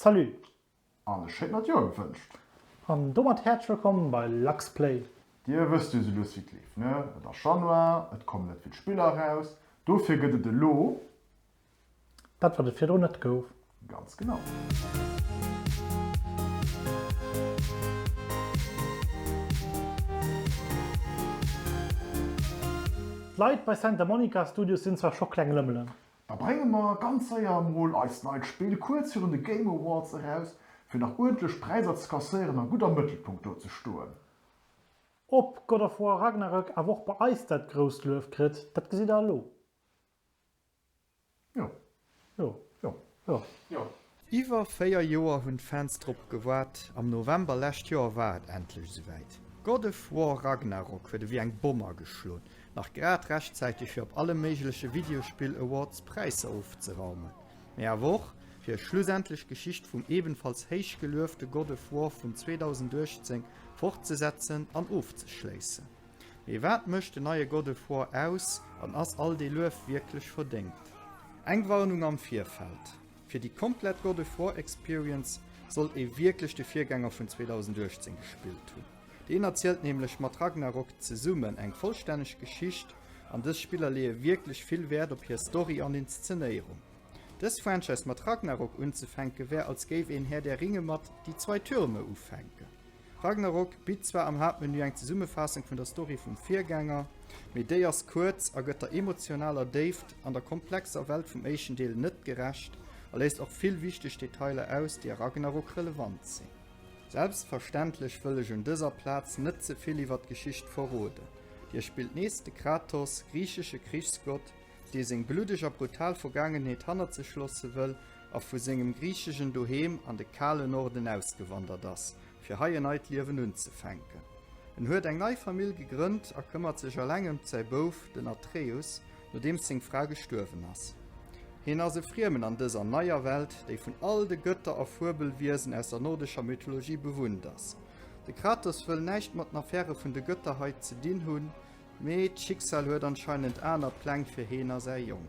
Salut! An e schéint neit Joer gewënscht! An domat häerzlech wëllkomm bei LuxPlay! Dir wësst jo sou lues wéi et leeft ne? Et ass Januar, et kommen net vill Spiller eraus, dofir gëtt et elo. Dat wat et virdrun net gouf. Ganz genau! D'Leit bei Santa Monica Studios sinn zwar scho kleng Lëmmelen. Da brénge mer ganz séier emol eist neit Spill kuerz virun de Game Awards eraus, fir nach uerdentlech Präiser ze kasséieren a gutt am Mëttelpunkt do ze stoen. Ob God of War Ragnarök awer och bei eis dat grousst Luef kritt, dat gesitt der elo. Jo. Jo. Jo. Jo. Jo. Iwwer 4 Joer hunn d'Fans drop gewaart. Am November lescht Joer war et endlech esouwäit. God of War Ragnarok huet ewéi eng Bomm ageschloen. Nach grad rechtzäiteg fir op alle méigleche Videospill Awards Präisser ofzeraumen, mee awer och fir ech schlussendlech d'Geschicht vum ebenfalls héich geluefte God of War vun 2018 fortzesetzen an ofzeschléissen. Mee wat mécht den neie God of War aus an ass all dee Luef wierklech verdéngt? Eng Warnung am Virfeld, Fir déi komplett God of War Experience sollt ee wierklech de Virgänger vun 2018 gespillt hunn. Deen erzielt nämlech mat Ragnarok zesummen eng vollstänneg Geschicht, an dës Spiller leeë wierklech vill Wäert op hir Story an Inszenéierung. Dës Franchise mat Ragnarok unzefänke wär als géif een Herr der Ringe mat Die zwei Türme ufänken. Ragnarok bitt zwar am Haaptmenü eng Zesummefaassung vun der Story vum Virgänger, mee déi ass kuerz a gëtt der emotionaler Déift an der komplexer Welt vum éischten Deel net gerecht a léisst och vill wichteg Detailer aus, déi a Ragnarok relevant sinn. Selbstverständlech wëll ech un dëser Plaz net ze vill iwwer d'Geschicht verroden. Dir spillt nees de Kratos, griichesche Krichsgott, dee seng bluddeg a brutal Vergaangenheet hannert sech loosse wëll a vu sengem griichegen Doheem an de kale Norden ausgewandert ass, fir hei en neit Liewen unzefänken. En huet eng nei Famill gegrënnt a këmmert sech eleng ëmt säi Bouf, den Atreus, nodeems seng Fra gestuerwen ass. Hien ass e Friemen an dëser neier Welt, déi vun all de Gëtter a Fuebelwiesen aus der nordescher Mythologie bewunnt ass. De Kratos wëll näischt mat den Affäre vun de Gëtter hei ze dinn hunn, Mee d'Schicksal huet anscheinend aner Pläng fir heen a säi Jong.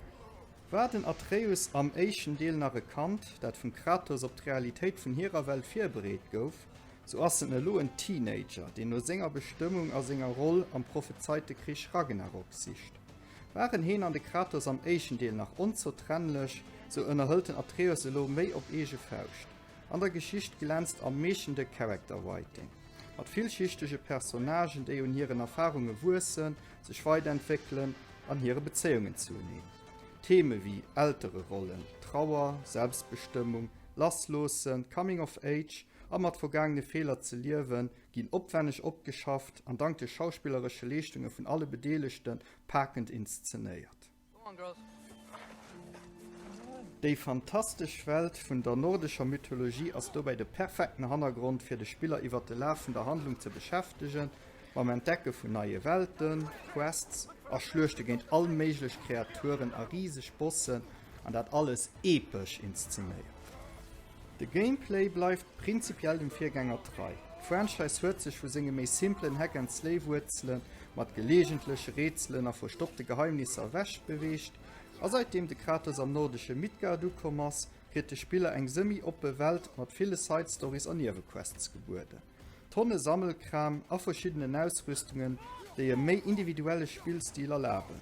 War den Atreus am éischten Deel nach e Kand, dat vum Kratos op d'Realitéit vun hirer Welt virbereet gouf, sou ass en elo en Teenager, deen no senger Bestëmmung a senger Roll am prophezeite Krich Ragnarok sicht. Waren heen an de Kratos am éischten Deel nach onzertrennlech, sou ënnerhëlt den Atreus elo méi op eege Fauscht. An der Geschicht glänzt am meeschten de Character Writing, mat villschichtege Personnagen, déi un hiren Erfarunge wuessen, sech weiderentwéckelen an hire Bezéiungen zu eneen. Theeme wéi Eltererollen, Trauer, Selbstbestëmmung, Lassloossen, Coming of Age a mat vergaangene Feeler ze liewen, ginn opwänneg opgeschafft an dank de schauspilleresche Leeschtunge vun alle Bedeelegte pakend inszenéiert. Déi fantastesch Welt vun der nordescher Mythologie ass dobäi de perfekten Hannergrond fir de Spiller iwwer de Laf vun der Handlung ze beschäftegen, mam Entdecke vun neie Welten, Quests a Schluechte géint all méiglech Kreaturen a riseg Bossen, an dat alles epesch inszenéiert. De Gameplay bleift prinzipiell dem Virgänger trei. D'Franchise huet sech vu senge méi simplen Hack-and-Slay-Wuerzele mat geleegentleche Rätselen a verstoppte Geheimnisser ewech beweegt, a säitdeem de Kratos am nordesche Midgard ukomm ass, kritt de Spiller eng semi-oppe Welt mat ville Side-Stories a Niewequests gebueden, Tonne Sammelkram a verschiddenen Ausrüstungen, déi e méi individuelle Spillstil erlaben.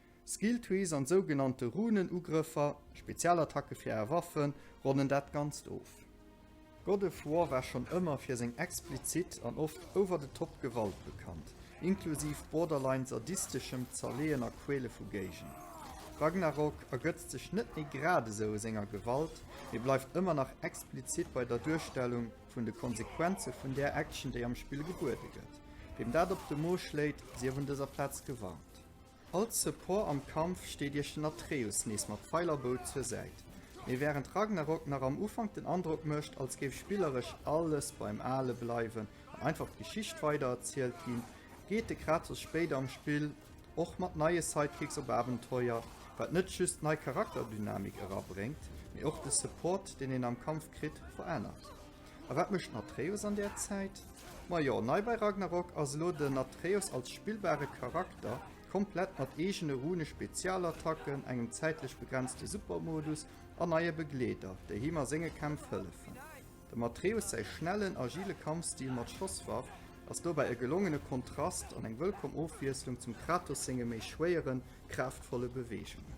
Skill Trees an sougenannte Runen-Ugrëffer, Spezialattacke fir Aer Waffen, ronnen dat Ganzt of. God of War war schonn ëmmer fir seng explizit an oft over-the-top Gewalt bekannt, inklusiv borderline sadisteschem Zerleeën a Quäle vu Géigner. Ragnarok ergëtzt sech net méi gradesou u senger Gewalt, mee bleift ëmmer nach explizit bei der Duerstellung vun de Konsequenze vun där Action, déi am Spill gebuede gëtt. Weem dat op de Mo schléit, sief un dëser Plaz gewarnt. Als Support am Kampf steet iech den Atreus nees mat Pfeil a Bou zur Säit. Mee wärend Ragnarok nach am Ufank den Androck mécht, als géif spilleresch alles beim Ale bleiwen an einfach d'Geschicht weidererzielt ginn, geet de Kratos spéider am Spill och mat neie Sidekicks op Abenteuer, wat net just nei Charakterdynamik erabréngt, mee och de Support, deen een am Kampf kritt, verännert. A wat mécht den Atreus an där Zäit? Majo, nei bei Ragnarok ass elo den Atreus als spillbare Charakter, komplett mat eegene Rune, Spezialattacken, engem zäitlech begrenzte Supermodus an neie Begleeder, déi him a senge Kämpf hëllefen. Dem Atreus säi schnellen, agile Kampfstil mat Schosswaff ass dobäi e gelongene Kontrast an eng wëllkomm Ofwiesslung zum Kratos senge méi schwéieren, kraaftvolle Beweegungen.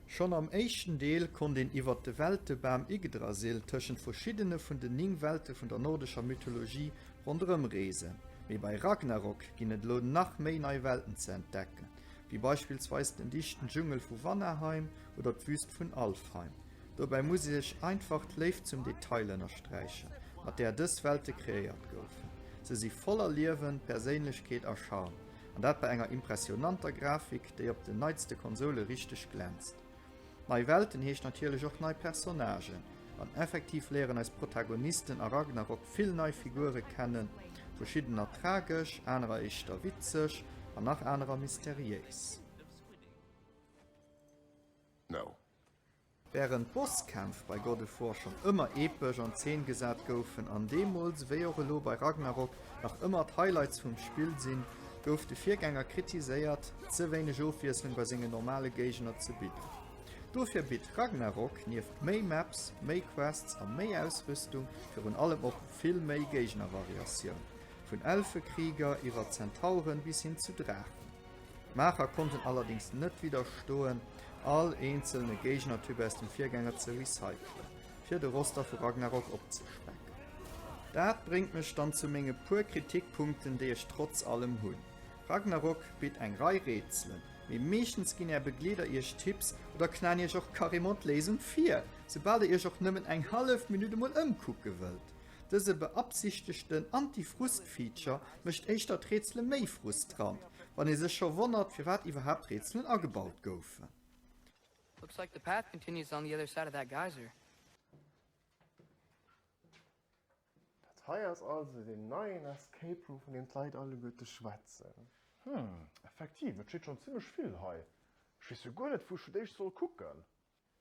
Schonn am éischten Deel konnt een iwwert de Weltebam Yggdrasil tëschent verschiddene vun den 9 Welte vun der nordescher Mythologie ronderëm reesen, mee bei Ragnarok ginn et elo nach méi nei Welten ze entdecken, wéi beispillsweis den dichten Dschungel vu Vanaheim oder d'Wüst vun Alfheim. Dobäi muss ee sech einfach d'Léift zum Detail ënnersträichen, mat där dës Welte kreéiert goufen. Se si voller Liewen, Perséinlechkeet a Charme. An dat bei enger impressionanter Grafik, déi op den neitste Konsoule richteg glänzt. Nei Welten heescht natierlech och nei Personnagen, an effektiv léieren eis Protagonisten a Ragnarok vill nei Figure kennen, verschiddener tragesch, anerer éischter witzeg an nach anerer mysteriéis. Wärend d'Bosskämpf bei God of War schonn ëmmer epesch an Zeen gesat goufen an deemools ewéi och elo bei Ragnarok nach ëmmer d'Highlights vum Spill sinn, gouf de Virgänger kritiséiert, ze wéineg Ofwiesslung bei senge normale Géigner ze bidden. Dofir bitt Ragnarok nieft méi Maps, méi Quests a méi Ausrüstung virun allem och vill méi Géignervariatioun, vun Elfe-Krieger iwwer Zentauren bis hin zu Draachen. D'Maacher konnten allerdéngs net widderstoen, all eenzelne Géignertyp aus dem Virgänger ze recyclen, fir de Roster vu Ragnarok opzespecken. Dat bréngt mech dann zu menge puer Kritikpunkten, déi ech trotz allem hunn. Ragnarok bitt eng Rei Rätselen, mee meeschtens ginn är Begleeder iech Tipps oder knaen iech och carrément d'Léisung vir, soubal der iech och nëmmen eng hallef Minutt emol ëmkucke wëllt. Dëse beabsichtegten Anti-Frust-Feature mécht éischter d'Rätsele méi frustrant, Wann ee sech scho wonnert firwat iwwerhaapt Rätselen agebaut goufen. Looks like the path continues on the other side of that geyser. Dat hei ass also deen neien Escape Room vun deem d'Leit alleguerte schwätzen. Hm, effektiv, et steet schonn zimmlech vill hei. Ech weess jo guer net wou ech fir d'éischt soll kucken.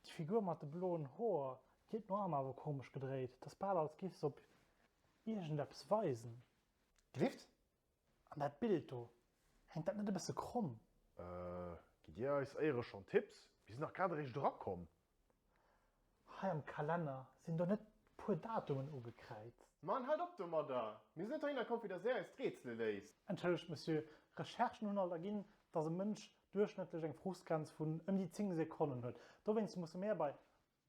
Déi Figur mat de bloen Hoer, déi huet no Arm awer komesch gedréit, et ass bal als giff se op iergendeppes weisen. Grifft? An dat Bild do, hänkt dat net e bësse kromm? Gitt Dir eis éiere schonn Tipps? Mir sinn dach grad eréischt erakomm. Hei am Kalenner, sinn do net puer Datumen ugekräizt? Mann, halt op domadder! Mir sinn net heihinner komm fir dass Där eis d'Rätsele léist. Entschëllegt Monsieur, Recherchen hunn alt erginn, dass e Mënsch duerchschnëttlech eng Frustgrenz vun ëm déi 10 Sekonnen huet. Dowéinst musse mär bei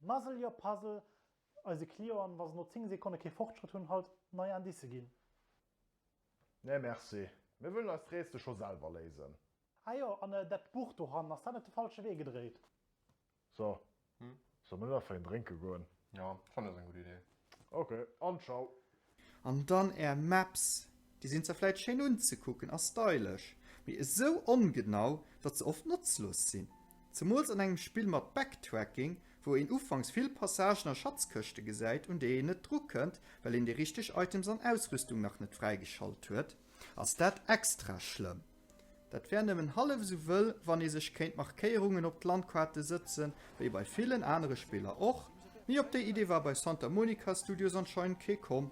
Muzzle your puzzle, Eise Clienten, wa se no 10 Sekonne kee Fortschrëtt hunn, halt nei Indicë ginn. Nee merci, mir wëllen eist Rätsel scho selwer léisen. Ah jo, an dat Buch dohannen, ass dat net de falsche Wee gedréit? So, solle mer net einfach een drénke goen? Jo, fannen ech ass eng gutt Idee. Ok, an tschau. An dann är Maps, déi sinn zwar vläit schéin unzekucken a stylesch, mee esou ongenau, datt se oft notzlos sinn. Zemools an engem Spill mat Backtracking, wou een ufanks vill Passagen a Schatzkëschte gesäit, un déi een net drukënnt, well een déi richteg Items an Ausrüstung nach net fräigeschalt huet, ass dat extra schlëmm. Dat wär nëmmen hallef esou wëll, wann ee sech kéint Markéierungen op d'Landkaarte sëtzen, wéi bei villen anere Spiller och. Mee op déi Idee war bei Santa Monica Studios anscheinend kee komm.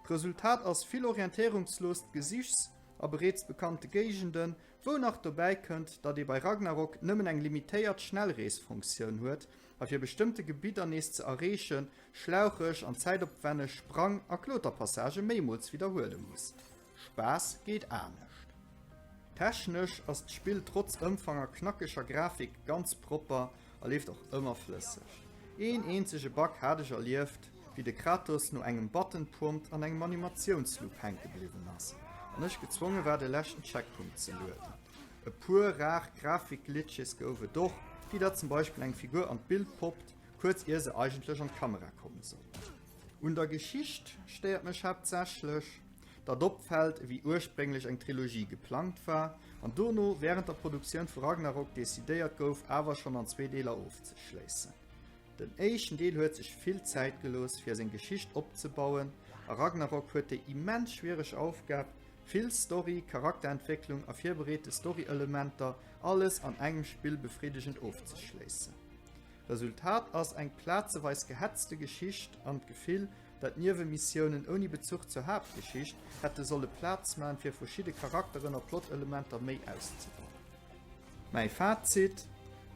D'Resultat ass vill orientéierungsloost Gesichs a bereets bekannte Géigenden, wou nach dobäi kënnt, datt ee bei Ragnarok nëmmen eng limitéiert Schnellreesfunktioun huet a fir bestëmmte Gebidder nees ze erreeche schlaucheg an zäitopwänneg Sprang a Kloterpassagë méimools widderhuele muss. Spaass geet anescht. Technesch ass d'Spill trotz Ëmfang a knackeger Grafik ganz propper a leeft och ëmmer flësseg. Een eenzege Bug hat ech erlieft, wéi de Kratos no engem Button Prompt an engem Animatiounsloop hänke bliwwen ass an ech gezwonge war de leschten Checkpunkt ze lueden. E puer rar Grafik-Glitches gouf et och, wéi datt zum Beispill eng Figur an d'Bild poppt, kuerz ier se eigentlech an d'Kamera komme sollt. Un der Geschicht stéiert mech haaptsächlech, dat opfält, ewéi ursprénglech eng Trilogie geplangt war an dono wärend der Produktioun vu Ragnarok decidéiert gouf awer schonn an zwee Deeler ofzeschléissen. Den éischten Deel huet sech vill Zäit gelooss fir seng Geschicht opzebauen a Ragnarok huet déi immens schwiereg Aufgab vill Story, Charakterentwécklung a virbereete Storyelementer alles an engem Spill befriddegend ofzeschléissen. Resultat ass eng plazeweis gehetzte Geschicht an d'Gefill, Datt Niewe-Missiounen ouni Bezuch zur Haaptgeschicht hätte solle Plaz man fir verschidde Charakteren a Plot-Elementer méi auszebauen. Mäi Fazit,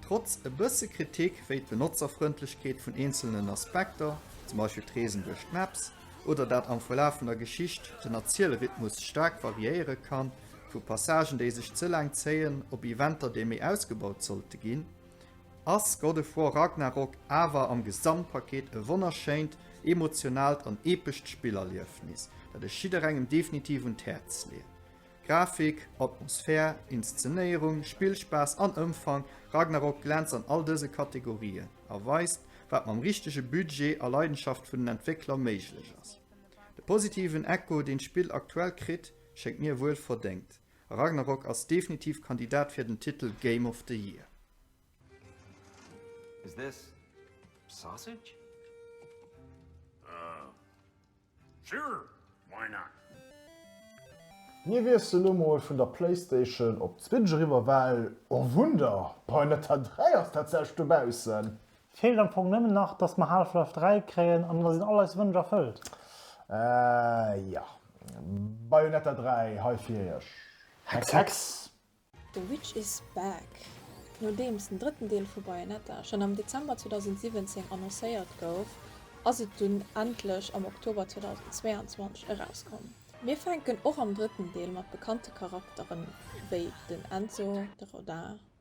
Trotz e bësse Kritik, wéi d'Benotzerfrëndlechkeet vun eenzelnen Aspekter, zum Beispill d'Reesen duerch d'Maps, oder dat am Verlaf vun der Geschicht den Erzielrhythmus staark variéiere kann, vu Passagen déi sech ze laang zéien, op Eventer déi méi ausgebaut sollte ginn, ass God of War Ragnarok awer am Gesamtpaket e wonnerschéint, emotionaalt an epescht Spillerliefnis, dat ech jidderengem definitiv un d'Häerz leeën. Grafik, Atmosphär, Inszenéierung, Spillspaass an Ëmfang, Ragnarok glänzt an all dëse Kategorien a weist, wat mam richtege Budget a Leidenschaft vun den Entwéckler méiglech ass. De positiven Echo, deen d'Spill aktuell kritt, schéngt mir wuel verdéngt. Ragnarok ass definitiv Kandidat fir den Titel Game of the Year. Is this sausage? Uh, sure, why not? Mir wiessle lo mol vun der Playstation op d'Switch eriwwer, well, oh Wunder, Bayonetta 3 ass tatsächlech dobaussen! Et feelt am Fong nëmmen nach, dass mer Half-Life 3 kréien an da sinn all eis Wënsch erfëllt. Ahh jo, Bayonetta 3, hei fir iech! Hex Hex! The Witch is Back! Nodeems den drëtten Deel vu Bayonetta schonn am Dezember 2017 annoncéiert gouf, ass et dunn endlech am Oktober 2022 erauskomm. Mir fänken och am drëtten Deel mat bekannte Charakteren wéi den Enzo, de Rodin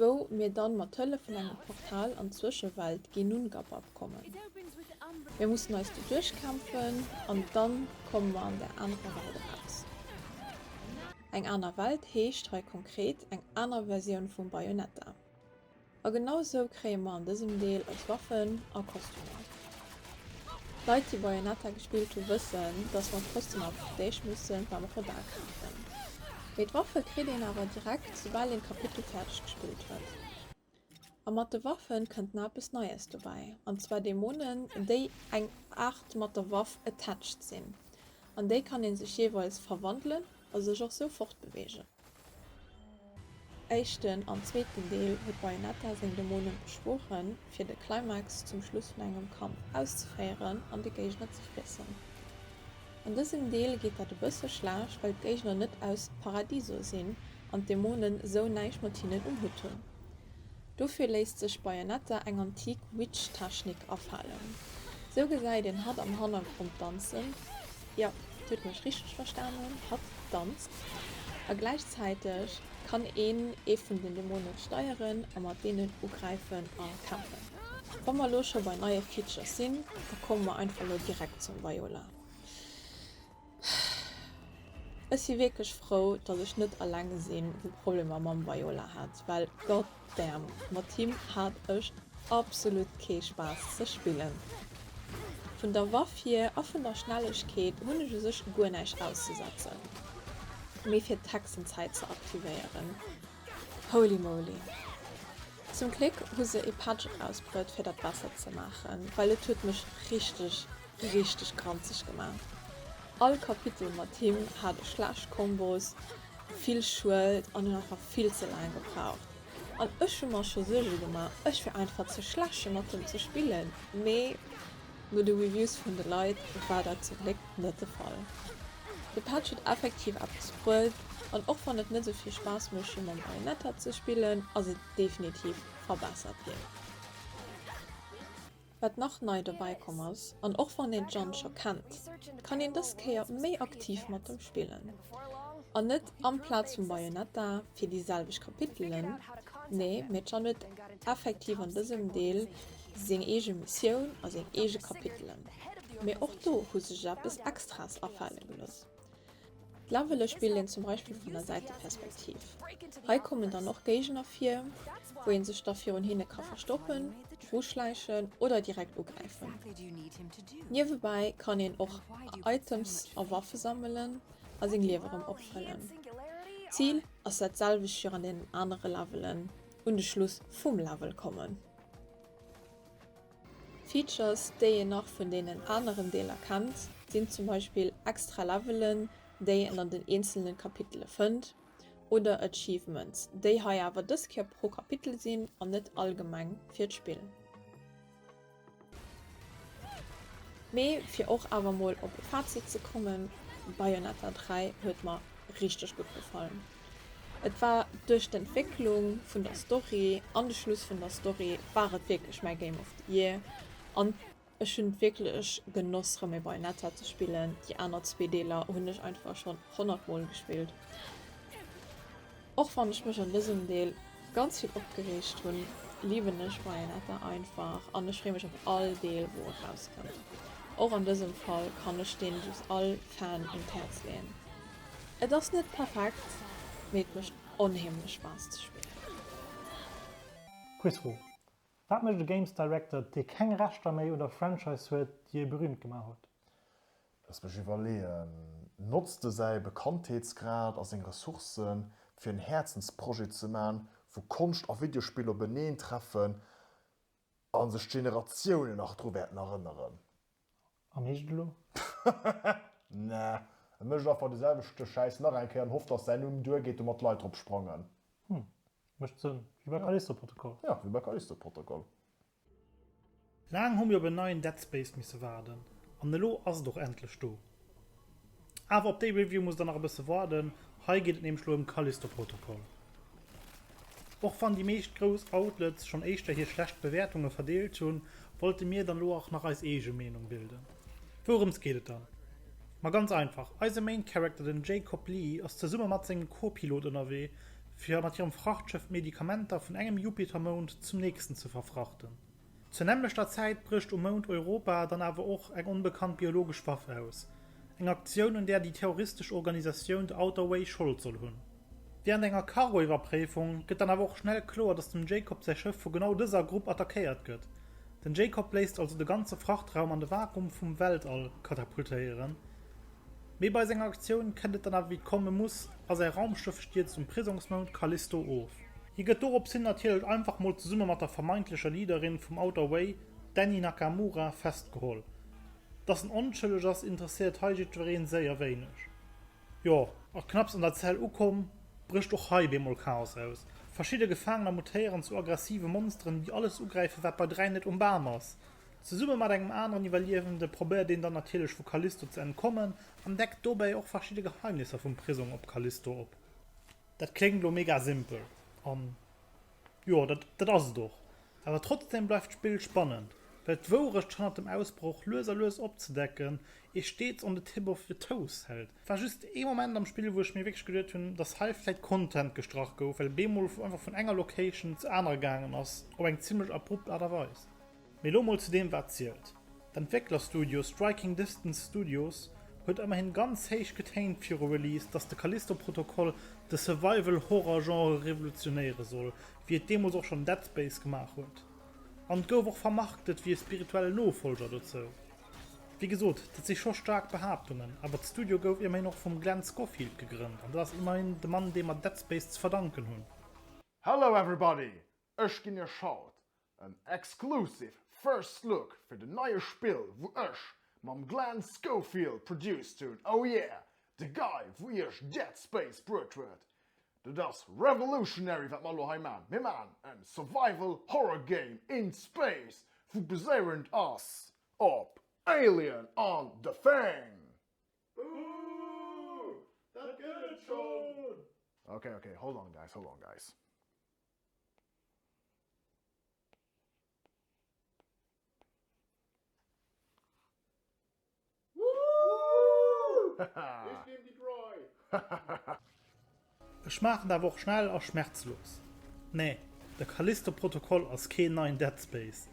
wou mir dann mat Hëllef vun engem Portal an d'Zwëschewelt Genungabab kommen. Mir mussen eis do duerchkämpfen an dann komme mer an der anerer Welt eraus. Eng aner Welt heescht hei konkret eng aner Versioun vum Bayonetta. A genau sou kréie mer an dësem Deel eis Waffen a Kostümer. Leit déi Bayonetta gespillt hu wëssen dass mer trotzdem am Versteeg mussen d'Arme Robert kafen. Mee d'Waffe kritt een awer direkt soubal een d'Kapitel fäerdeg gespillt huet. A mat de Waffen kënnt na eppes Neies dobäi an zwar Dämonen déi eng Aart mat der Waff attached sinn an déi kann een sech jeeweils verwandelen a sech och sou fortbeweegen. Éischten an zweeten Deel huet Bayonetta seng Dämonen beschworen, fir de Climax zum Schluss vun engem Kampf auszeféieren an de Géigner ze friessen. An dësem Deel geet dat e bësse schlecht, well d'Géigner net aus Paradiso sinn an d'Dämonen esou näischt mat hinnen um Hutt hunn. Dofir léisst sech bei en etta eng antik Witch Technik afalen. Sou gesäit een hatt am Hannergrond danzen, jo dir hutt mech richteg verstanen, hatt danzt. A gläichzäiteg kann een ee vun den Dämonen steieren a mat deenen ugräifen a kämpfen. Wa mer elo scho bei neie Features sinn, da komme mer einfach elo direkt zum Viola. Ech si wierklech frou, datt ech net alleng sinn, dee Problemer mam Viola hat, well god damn, mat him hat ech absolut kee Spaass ze spillen. Vun der Waff hier a vun der Schnellegkeet hunn ech u sech guer näischt auszesetzen, mee fir d'Hexenzäit ze aktivéieren, holy moly! Zum Gléck hu se ee Patch erausbruet, fir dat besser ze maachen, well et huet mech richteg Richteg kranzeg gemaach. All Kapitel mat him hat e schlecht Kombos, vill Schued an huet einfach vill ze laang gebraucht. An ech hu mer scho Suerge gemaach, ech wier einfach ze schlecht mat him ze spillen, mee no de Reviews vun de Leit war dat zum Gléck net de Fall. De Patch huet effektiv eppes bruet an och wann et net sou vill Spaass mécht wéi mam Bayonetta ze spillen, ass et definitiv verbessert ginn. Wat nach nei dobäi komm ass, an och wann een d'Jeanne scho kennt, kann een dës Kéier méi aktiv mat em spillen. An net amplaz vum Bayonetta fir déi selwecht Kapitelen, nee, mee d'Jeanne huet effektiv an dësem Deel seng eege Missioun a seng eege Kapitelen. Mee och do hu sech eppes Extraes afale gelooss. D'Levele spillt een zum Beispill vun der Säiteperspektiv. Hei kommen dann och Géigner vir, wou ee sech da virun hinne ka verstoppen, uschläichen oder direkt ugräifen. Niewebäi kann een och Items a Waffe sammelen a seng Liewe rëm opfëllen. D'Zil ass dat selwecht wéi an deenen anere Levelen, un de Schluss vum Level kommen. Features déi een nach vun deenen aneren Deeler kennt sinn zum Beispill extra Levelen déi een an den eenzelne Kapitele fënnt oder Achievements déi hei awer dës Kéier pro Kapitel sinn an net allgemeng fir d'Spill, mee fir och awer mol op e Fazit ze kommen, Bayonetta 3 huet mer richteg gutt gefallen. Et war duerch d'Entwécklung vun der Story an de Schluss vun der Story war et wierklech mäi Game of the Year an ech hunn wierklech genoss rëm e Bayonetta ze spillen. Déi aner zwee Deeler hunn ech einfach schonn honnert mol gespillt. Och wann ech mech an dësem Deel ganz vill opgereegt hunn, liwen ech Bayonetta einfach an ech freeë mech op all Deel wou erauskënnt. Och an dësem Fall kann ech deen just all Fan un d'Häerz leeën. Et ass net perfekt, mee et mécht onheemlech Spaass ze spillen. Quizfro, Wat mécht e Games Director, dee keng Rechter méi un der Franchise huet, déi e berüümt gemaach huet? Looss mech iwwerleeën, Notzt e säi Bekanntheetsgrad a seng Ressourcen, fir en Häerzensprojet ze maachen, wou Konscht a Videospill openeentreffen a sech d'Generatiounen nach dru wäerten erënneren? An heescht elo? Na, e mécht einfach de selwechte Schäiss nach eng Kéier an hofft, datt säin Numm duer geet, domat d'Leit drop sprangen. Hm, mécht Sënn. Wéi bei Callisto-Protokoll. Jo, wéi bei Callisto-Protokoll. Laang hu mir op en neien Dead Space misse waarden, an elo ass et och endlech do. Awer op déi Review musst der nach e bësse waarden, hei geet et nämlech elo ëm Callisto Protocol. Och wann déi meescht grouss Outlets schonn éischter hir schlecht Bewäertunge verdeelt hunn, wollte mir dann elo och nach eis eege Meenung bilden. Wourëms geet et dann? Ma ganz einfach, eise Main Character, den Jacob Lee, ass zesumme mat sengem Co-Pilot ënnerwee, fir mat hirem Frachtschëff d'Medikamenter vun engem Jupitermound zum nächsten ze verfrachten. Zur nämmlechter Zäit brécht um Mound Europa dann awer och eng onbekannt biologesch Waff aus, eng Aktioun un där déi terroristesch Organisatioun The Outer Way Schold soll hunn. Wärend enger Cargo-Iwwerpréifung gëtt dann awer och schnell kloer, datt dem Jacob säi Schëff vu genau dëser Grupp attackéiert gëtt. Den Jacob léisst also de ganze Frachtraum an de Vakuum vum Weltall katapultéieren. Mee bei senger Aktioun kënnt et dann awer wéi et komme muss a säi Raumschëff stierzt um Prisongsmound Callisto of. Hie gëtt dorops hin natierlech einfach mol zesumme mat der vermeintlecher Leaderin vum Outer Way, d'Danny Nakamura, festgeholl. Dass en onschëlleg ass, interesséiert hei jiddwereen séier wéineg. Jo. A knapps an der Zell ukomm, brécht och hei bemol Chaos aus. Verschidde Gefaangener mutéieren zu aggressive Monsteren, déi alles ugräifen, wat bei 3 net um Bam ass. Zesumme mat engem aneren Iwwerliewende probéiert een dann natierlech vu Callisto ze entkommen an deckt dobäi och verschidde Geheimnisser vum Prisong op Callisto op. Dat kléngt elo mega simpel, an jo, dat dat ass et och. Awer trotzdeem bleift d'Spill spannend, well d'Wourecht hannert dem Ausbroch lues a lues opzedecken ee steets on the tip of your toes hält. War just ee Moment am Spill, wou ech mir wierklech geduet hunn, dass hei vläit Content gestrach gouf, well et bemol einfach vun enger Location zur anerer gaangen ass, op eng zimmlech abrupt Aart a Weis. Mee lo mol zu deem wat zielt. D'Entwécklerstudio Striking Distance Studios huet ëmmerhin ganz héich getéint viru Release, dass de Callisto-Protokoll de Survival-Horror-Genre revolutionéiere soll, wéi et deemools och schonn Dead Space gemaach huet. An et gouf och vermarktet wéi e spirituellen Nofollger dozou. Wéi gesot, dat si scho staark Behaaptungen, awer d'Studio gouf immerhin och vum Glenn Scofield gegrënnt, an dat ass immerhin de Mann, deem mer Dead Space ze verdanken hunn. Hello everybody! Ech ginn iech haut en exclusive first look fir den neie Spill wou ech mam Glenn Schofield produced hunn, oh yeah, de Guy wou iech Dead Space bruet huet. Dat ass revolutionary wat mer elo hei man, mir man en survival horror game in space wou baséierend ass op Alien an The Thing. Ooh, dat gëtt et schon! Okay, okay, hold on guys, hold on guys. Ech maachen awer och schnell a schmerzlos. Nee, de Callisto-Protokoll ass keen neien Dead Space.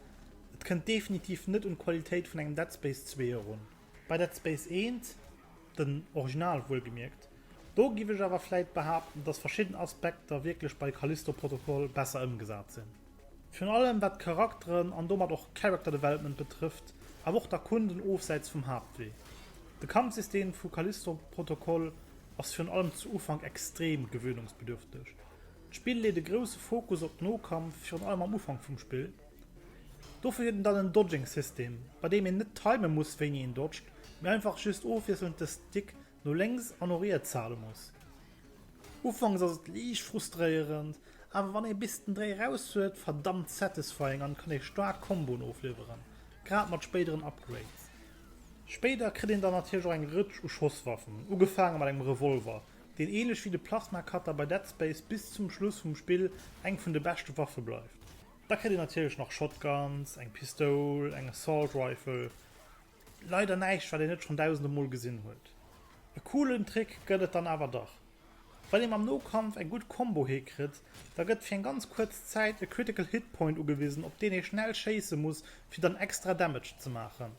Et kënnt definitiv net un d'Qualitéit vun engem Dead Space 2 erun. Bei Dead Space 1, den Original wuelgemierkt, do giff ech awer vläit behaapten, dass verschidden Aspekter wierklech bei Callisto Protocol besser ëmgesat sinn. Virun allem wat d'Charakteren an domat och Character Development betrëfft, awer och d'Erkunden ofsäits vum Haaptwee. De Kampfsystem vu Callisto Protocol ass virun allem zu Ufank extrem gewöhnungsbedürfteg. D'Spill leet e grousse Fokus op Nokampf, virun allem am Ufank vum Spill. Dofir huet en dann en Dodging System, bei deem een net timen muss wéini een dodged, mee einfach just ofwiesselnd de Stick no lénks an no riets hale muss. Ufanks ass et liicht frustréierend, awer wann ee bis den Dréi raus huet, verdammt satisfying an kann ee staark Comboen ofliwweren, grad mat spéideren Upgrades. Spéider kritt een dann natierlech och eng Rëtsch u Schosswaffen, ugefaange mat engem Revolver, deen ähnlech wéi de Plasma Cutter bei Dead Space bis zum Schluss vum Spill eng vun de beschte Waffe bleift. Da kritt een natierlech nach Shotguns, eng Pistoul, eng Assault Rifle, leider näischt wat een net schonn dausende Mol gesinn huet. E coolen Trick gëtt et dann awer dach. Wann ee mam Nokampf eng gutt Combo hikritt, da gëtt fir eng ganz kuerz Zäit e Critical Hit Point ugewisen op deen ee schnell schéisse muss fir dann extra Damage ze maachen.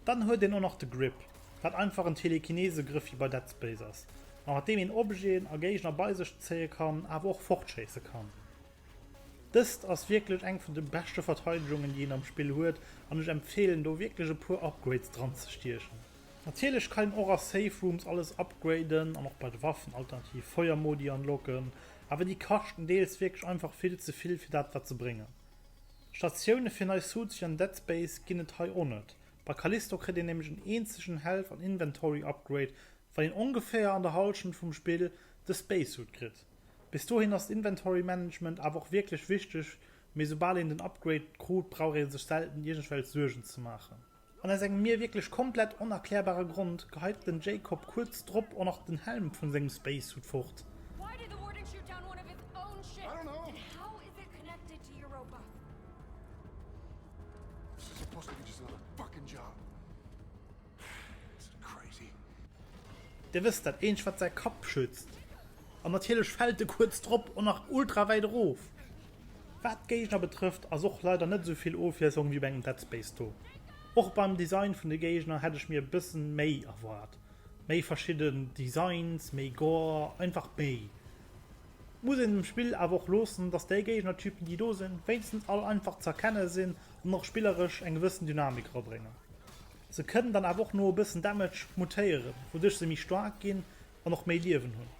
Dann huet een och nach de Grip, wat einfach en Telekinese-Grëff wéi bei Dead Space ass, ma mat deem een Objeten a Géigner bei sech zéie kann, awer och fortschéisse kann. Dëst ass wierklech eng vun de beschte Verteidegungen, déi een am Spill huet, an ech empfeelen do wierklech e puer Upgrades dranzestiechen. Natierlech kann een och a Safe Rooms alles upgraden an och bei de Waffen alternativ Feuermodi unlocken, awer déi kaschten deels wierklech einfach vill ze vill fir dat wat se bréngen. Statioune fir nei Suits wéi an Dead Space ginn et hei och net, bei Callisto kritt een nämlech en eenzegen Health an Inventory Upgrade wann een ongeféier an der Halschent vum Spill de Spacesuit kritt. Bis dohin ass d'Inventory Management awer och wierklech wichteg, mee soubal een den Upgrade krut brauch ee sech selten iergendwelch Suergen ze maachen. An aus engem mir wierklech komplett onerklärbare Grond geheit den Jacob kuerz drop och nach den Helm vun sengem Spacesuit fort. Dir wësst, dat eenzegt wat säi Kapp schützt. An natierlech fält e kuerz drop och nach ultra wäit erof. Wat d'Géigner betrëfft ass och leider net esou vill Ofwiesslung wéi bei engem Dead Space do. Och beim Design vun de Géigner hätt ech mir e bësse méi erwaart. Méi verschidden Designs, méi Gore, einfach méi. Muss een dem Spill awer och loossen, dass déi Géignertypen déi do sinn, wéinstens all einfach ze erkenne sinn an och spilleresch eng gewëssen Dynamik erabréngen. Se kënnen dann awer och no e bëssen Damage mutéieren, wouduerch se méi staark ginn An och méi Liewen hunn.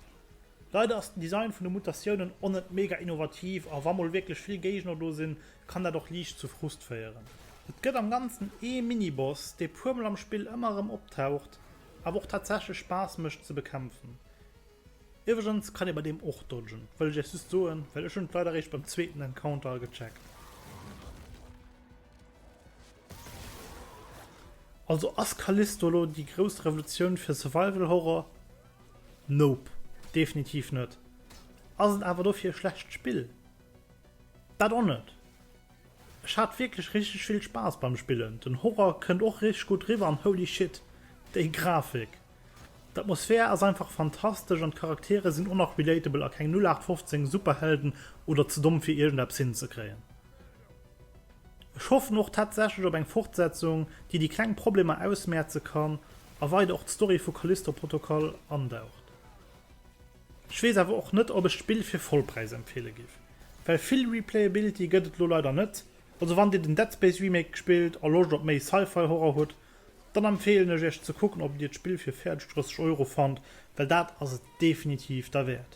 Leider ass den Design vun de Mutatiounen o net mega innovativ a wa mol wierklech vill Géigner do sinn, kann dat och liicht zu Frust féieren. Et gëtt am Ganzen ee Mini-Boss, dee puer mol am Spill ëmmer erëm optaucht, awer och tatsächlech Spaass mécht ze bekämpfen. Iwwregens kann ee bei deem och dodgen, wëll ech iech just soen, well ech hunn et leider eréischt beim zweeten Encounter gecheckt. Also ass Callisto elo déi grouss Revolutioun fir Survival Horror? Nope, definitiv net. Ass et awer dofir e schlecht Spill? Dat och net. Ech hat wierklech richteg vill Spaass beim Spillen, den Horror kënnt och richteg gutt riwwer an holy shit, déi Grafik! D'Atmosphär ass einfach fantastesch an d'Charaktere sinn och nach relatable a keng 0815 Superhelden oder ze domm fir iergendeppes hinzekréien. Ech hoffen och tatsächlech op eng Fortsetzung, déi déi kleng Problemer ausmäerze kann a weider och d'Story vu Callisto Protocol andaucht. Ech weess awer och net, ob ech d'Spill fir Vollpräis empfeele giff, well vill Replayability gëtt et lo leider net. Also wann dir den Dead Space Remake gespillt a Loscht op méi Sci-Fi Horror hutt, dann empfeelen ech iech ze kucken, ob dir d'Spill fir fäerdeg 30 Euro fannt, well dat ass et definitiv derwäert.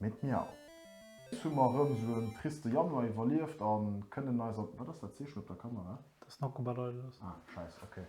Mee d'Miau! Ech hu mer erëm sou en triste Januar iwwerlieft a kënnen eis an, wat ass dat Zeechen op der Kamera? Dat ass en Akkubalager. Ah, Schäiss, okay.